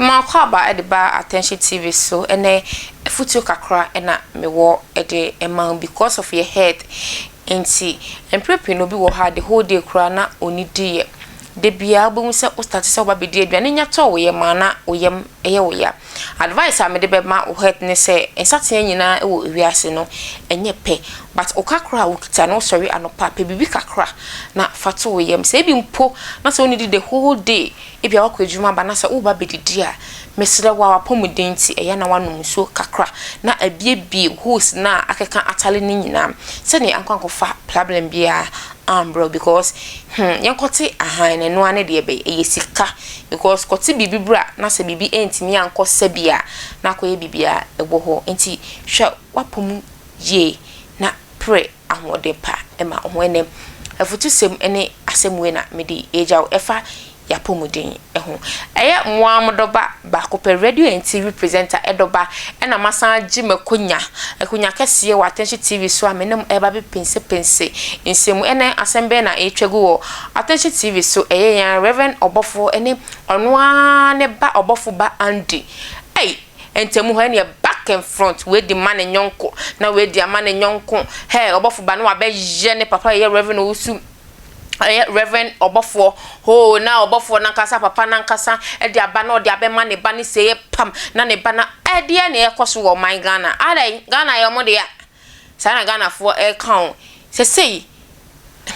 Mo akwaaba de ba attention TV so ɛnɛ afutuo kakra na me wɔ de ma wo because of your health nti mprɛ pii no obi wɔ hɔ a the whole day koraa na ɔnni di yɛ. Da biara wobɛhu sɛ wo starte sɛ woba bɛdi aduane nya tɔ wo yam a na wo yam yɛ wo ya. Advice a mede bɛma wo het ne sɛ nsateaa nyinaa wɔ wiase no nyɛ pɛ but wo kakra a wokita no wosɔre anɔpa a pɛ biribi kakra na fa to wo yam sɛ ebi mpo na sɛ wonnidi the whole day ebia woakɔ adwuma aba na sɛ woreba bɛdidi a mesrɛ wo a w'apɔmuden nti ɛyɛ a na woanom nsuo kakra na abiebie holes no a akeka atale no nyinaa sɛdeɛ ankɔ ankɔfa problem biara ambrɛ wo because hmm yɛnkɔtse ahan no noara ne deɛ bɛyɛ ɛyɛ sika because kɔtse biribi bra na sɛ biribi anntumi annkɔ sɛbia na akɔyɛ biribi a ɛwɔ hɔ ntsi hwɛ w'apamu yie na prɛ ahoɔden pa ma ho ɛnɛ afutusɛm ne asɛm wei na mede regya wo ɛfa y'apɔmuden ho. Ɛyɛ moaa mo dɔba baako pɛ, radio and TV presenter dɔba, ɛna masan agye m'akonya, akonya kɛseɛ wɔ Attention TV so a me ne mo ɛreba abɛpensepense nsɛmu. Ɛnɛ asɛm bɛn na ɛretwa gu wɔ Attention TV so? Ɛyɛ yɛn ara Reverend ɔbɔfoɔ ɛne ɔno ara ne ba ɔbɔfo ba Andy. Ei! Ntamu hɔ ɛneɛ back and front, wei de ma ne nyɔnko, na wei de ama ne nyɔnko. Hɛɛ ɔbɔfo ba no wabɛyɛ ne papa yɛyɛ Reverend Owusu. ɔyɛ reverend ɔbɔfoɔ hoo na ɔbɔfoɔ nankasa papa nankasa de aba na ɔde abɛma ne ba ne sɛɛ pam na ne ba na ɛdeɛ na ɛkɔ so wɔ ɔman Ghana adɛn Ghana yɛ ɔmo dea saa na Ghanafoɔ ɛka o sɛsei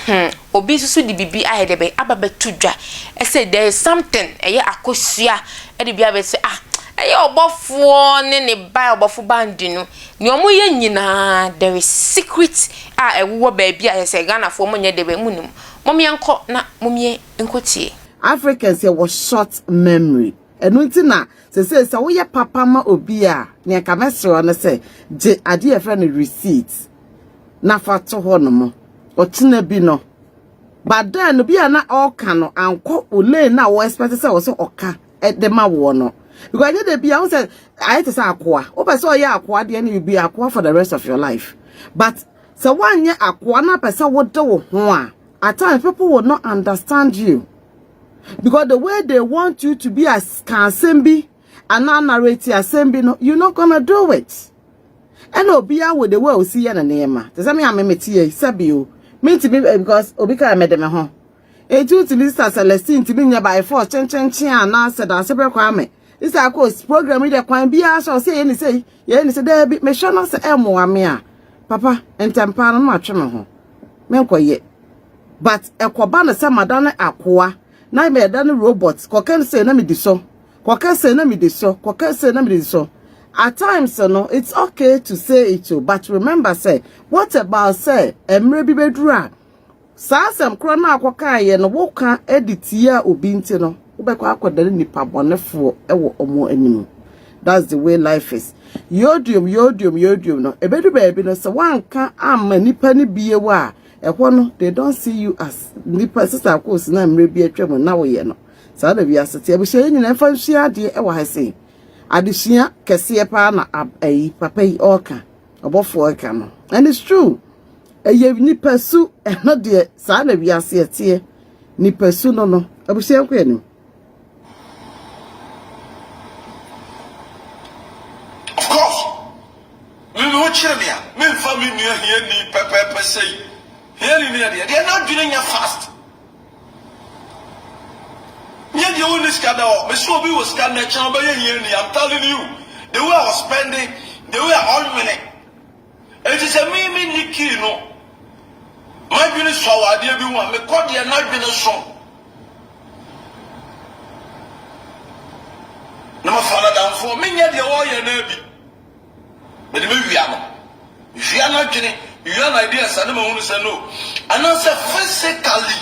hmm obi nso so de bibi ayɛ dɛ bɛ aba bɛto dwa ɛsɛ there is something ɛyɛ akosua ɛde bi abɛsɛ ah ɛyɛ ɔbɔfoɔ ne ne ba ɔbɔfo bandi no Nea ɔmo yɛ nyinaa there is secret a ɛwowɔ baabi a ɛsɛ Ghanafoɔ ɔmo nyɛ dɛbɛ ɔmo nim. Mom yɛn kɔ na mom yɛ nkɔ tie. Africans yɛ wɔ short memory ɛno nti na sesei sɛ wo yɛ papa ma obi a nea nka mɛ srɛ wo ne sɛ gye adeɛ yɛfrɛ no receipt na fa to hɔ nom ɔkyena bi no but then no bi a na ɔɔka no ankɔ wo lane na wo expect sɛ ɔsɛ ɔka de ma woɔ no because ɛnyɛ da bia wo sɛ ayɛ te sɛ akoa wopɛ sɛ ɔyɛ akoa deɛ no you be akoa for the rest of your life but sɛ woanyɛ akoa no apɛ sɛ wode wo ho a at times people will not understand you because the way they want you to be as ka asɛm bi anaa narrate asɛm bi no you not gonna do it ɛna obiara wɔ the way a osi yɛ ne nneɛma te sɛ me a memete yɛ sɛbi o mentumi eh, because obi kaa mede me ho Enti wotumi sisa Celestine tumi nyɛ by force kyenkyenkyen a na sɛ danse brɛ kwan me. Isa akos program yi de kwan biara sɛ ɔsɛ yɛ ne sɛ yɛ ne sɛ daabi mehwɛ no sɛ ɛmmoa me a papa ntɛmpaa no na matwe me ho menkɔyɛ. But ɛkɔba no sɛ mada ne akoa na mɛda ne robot kɔkɛ no sɛ na medi so kɔkɛ sɛ na medi so kɔkɛ sɛ na medi so. At times no it's okay to say it o but remember sɛ what about sɛ mmerɛ bi bɛduru a Saa asɛm korɔ no a wɔkɔkaeɛ no, woka de tiaa obi nti no, wobɛkɔ akɔdane nnipa bɔnefoɔ wɔ wɔn anim. That's the way life is. Yodium, yodium, yodium no, ɛbɛdu baabi no, sɛ woanka amma nnipa no bio a, ɛhɔ no, they don't see you as nnipa, sɛ saa kɔɔsi no a mmerɛ bi atwa mu na woyɛ no. Saa na wiase te. Abusua yɛ nyina ɛmfa nsua adeɛ wɔ ha sei. Adesua kɛseɛ paa na ayi papa yi ɔka, ɔbɔfoɔ ɛka no. And it's true. Ɛyɛ nipasu ɛhɔ deɛ saa na wiase ɛteɛ nipasu no no abusua nkɔ anim. Of course, me me wokyerɛ me a memfa me nua hiani pɛpɛɛpɛ sɛi. Hiani ne ɛdeɛ deɛ n'adwene nyɛ fast. Nyɛ deɛ wonni sika da hɔ. Mese obi wɔ sika nnɛ kyɛn ɔbɛyɛ hiani. I'm telling you, the way a ɔspɛnde, the way a ɔnwene, Enti sɛ me menni key no, m'adwene sua wɔ adeɛ bi ho a, mekɔ deɛ n'adwene so na mafa n'adamfoɔ. Menyɛ deɛ ɔreyɛ no ara bi. Mede mewia no. Mewia n'adwene, mewia n'adeas a na mahunu sɛ no. Anaasɛ physically.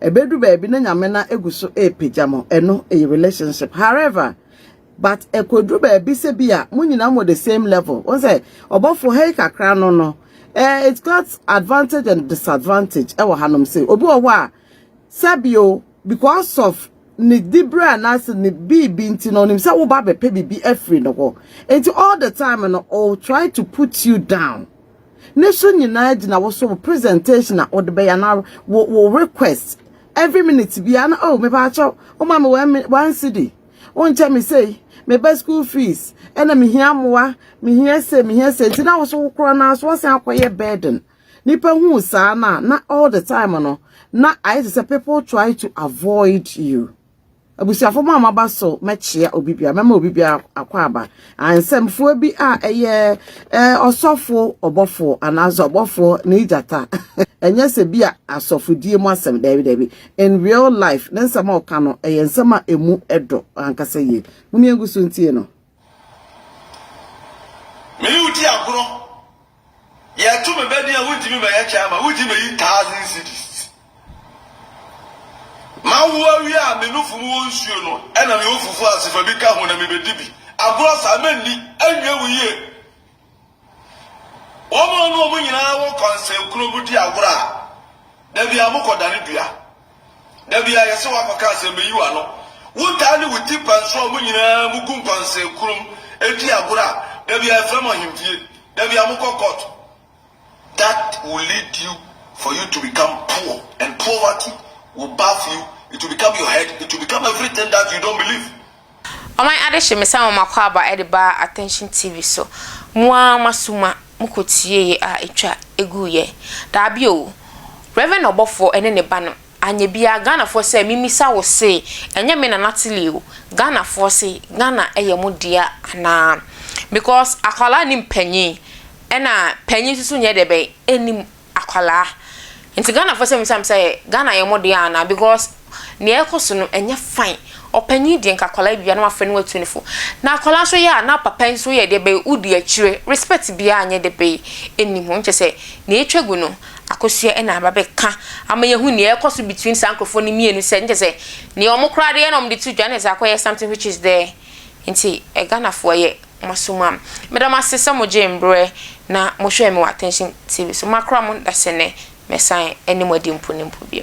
Ɛbɛdu baabi na Nyame na egu so repagya mo, ɛno ɛyɛ relationship. However, but ɛkɔduru baabi sɛ bi a mo nyinaa mo the same level. Wɔn sɛ ɔbɔfo ha yi kakra no no, eh, it's got advantage and disadvantage ɛwɔ hanom sɛ obi wɔ hɔ a sɛbio because of ne dibere anaasɛ ne biribi nti na ɔnim sɛ woba bɛpɛ biribi afiri ne hɔ. Nti all the time no, oh, try to put you down. ne so nyinaa gyina wo so wo presentation a wode bɛyɛ na wo wo request every minute bia na oh me ba cho o ma me one one city o nche me say me ba school fees e na me hia moa me hia say me hia say nti na wo so wo kro na so asan akoye burden nipa hu saa na na all the time no na i say people try to avoid you Abusuafo mo a moaba so mɛkyea obi biara, mɛma obi biara akwaaba. Ah, nsɛmfua bi a ɛyɛ eh, ɔsɔfo ɔbɔfo anaasɛ ɔbɔfo ne gyata. Ɛnyɛ sɛ bi a asɔfodie mu asɛm, daabi daabi. In real life, ne nsɛm a ɔka no, ɛyɛ nsɛm a ɛmu ɛdɔ ankasa yie. Muni ɛngu so ntie no. Me ne wo di agorɔ. Yɛto me bɛ din a wontumi mmɛyɛ kyɛ ama wogye mayi thousand cedis. Mawo awie a me nofo mu wɔ nsuo no ɛna me wɔ fufuo ase fa bi ka ho na mebɛdi bi. Agorɔ saa mɛnni, ɛnyɛ wo yie. Wɔn a wɔn nyinaa wɔ kɔnsɛnkuro mu di agorɔ a, da biara mokɔdane dua. Da biara yɛsɛ woakɔka asɛm bɛyi w'ano. Wotaa ne wo ti pɛn so a wɔn nyinaa mogu nkɔnsɛnkuro mu di agorɔ a, da biara yɛfrɛ mo ahemfie. Da biara mokɔ kɔɔto. that will lead you for you to become poor and poverty will bath you, it will become your head, it will become everything that you don't believe. Ɔman adehye me san wɔ m'akwaaba de baa attention TV so mo ara mo asuma mo kɔ tieeɛ a ɛtwa ɛguuiɛ daabi oo Rev ɔbɔfoɔ ɛne ne ba no anyɛ biara Ghanafoɔ sɛ me misa wo se ɛnyɛ me na Natalie o Ghanafoɔ se Ghana ɛyɛ mo dea anaa because akwadaa nim panyin Ɛna panyin nso so nyɛ dɛ bɛn ɛnim akwadaa nti Ghana foɔ sɛ misa mo sɛ Ghana yɛ mo deɛ anaa because nea ɛkɔ so no ɛnyɛ fine ɔpanyin deɛ nka akwadaa bi a na wafrɛ no watu no fo na akwadaa nso yɛ a na papa nso yɛ dɛ bɛn odi akyire respect biara nyɛ dɛ bɛn ɛnim hɔ nkyɛ sɛ nea ɛtwa gu no akosua ɛna aba bɛka ama yɛhu nea ɛkɔ so between saa nkorɔfoɔ no mmienu sɛ nkyɛ sɛ nea wɔn koraa deɛ na wɔde to dwa na ɛsɛ akɔyɛ something which is there nti Ghana foɔ yɛ. mo so ma me. Meda mo ase sɛ mo gyee mberɛ na mo hwɛɛ me wɔ Attention TV so. Makora mo dasɛ nɛ mɛsan ɛne mo adi mpo ne mpo bio.